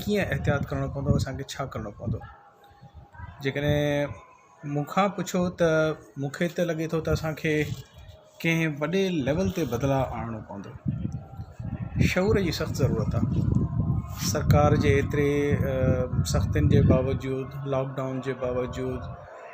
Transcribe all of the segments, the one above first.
ڪيئن احتياط ڪرڻو پوندو اسانکي ڇا ڪرڻو پوندو جيڪڏهن مون کان پڇو ته مونکي ته لڳي ٿو ته اسانکي ڪنهن وڏي ليول تي بدلاء آڻڻو پوندو شعور جي سخت ضرورت آهي سرڪار جي ايتري سختين جي باوجود لوڪ ڊائون جي باوجود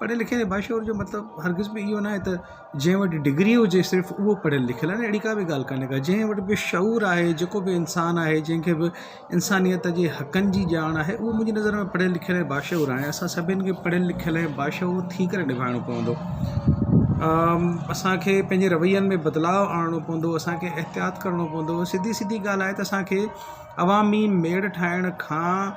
پڙهيل لکيل ۽ باشعور جو مطلب هرگز به اهو ناهي ته جنهن وٽ ڊگري هجي صرف اهو پڙهيل لکيل آهي اهڙي ڪا به ڳالهه ڪانهي ڪا جنهن وٽ به شعور آهي جيڪو به انسان آهي جنهن کي به انسانيت جي حقن جي ڄاڻ آهي اهو منهنجي نظر ۾ پڙهيل لکيل ۽ باشعور آهي اسان سڀني کي پڙهيل لکيل ۽ باشعور ٿي ڪري نڀائڻو پوندو اسانکي پنهنجي روين ۾ بدلاء آڻڻو پوندو اسانکي احتياط ڪرڻو پوندو سڌي سڌي ڳالهه آهي ته اسانکي عوامي ميڙ ٺاهڻ کان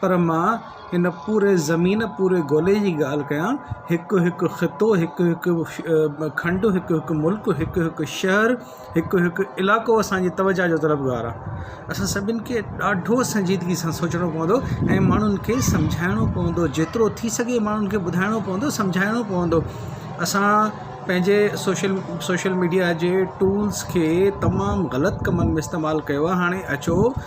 پر مان هن پوري زمين پوري گولي جي ڳالهه ڪيان هڪ هڪ خطو هڪ هڪ کنڊ هڪ هڪ ملڪ هڪ هڪ شهر هڪ هڪ علائقو اسان جي توجهه جو طلبگار آهي اسان سڀني کي ڏاڍو سنجيدگي سان سوچڻو پوندو ۽ ماڻهن کي سمجهائڻو پوندو جيترو ٿي سگهي ماڻهن کي ٻڌائڻو پوندو سمجهائڻو پوندو اسان پنهنجي سوشل سوشل ميڊيا جي ٽولس کي تمام غلط ڪمن ۾ استعمال ڪيو آهي هاڻي اچو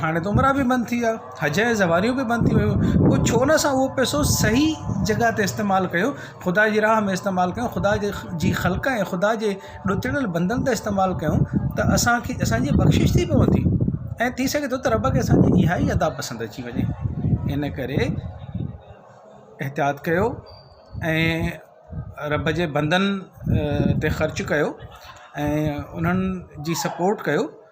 هاڻي ته عمره به بند ٿي ويا حج جي سواريون به بند ٿي ويون پوء ڇو نه اسان اهو پيسو صحيح جڳهه تي استعمال ڪيو خدا جي راه ۾ استعمال ڪيو خدا جي جي خلق ۽ خدا جي ڏتڙيل بندن تي استعمال ڪيو ته اسانکي اسانجي بخشش ٿي پوندي ۽ ٿي سگهي ٿو ته رب کي اسانجي اها ئي ادا پسند اچي وڃي ان ڪري احتياط ڪيو ۽ رب جي بندن تي خرچ ڪيو ۽ انهن جي سپورٽ ڪيو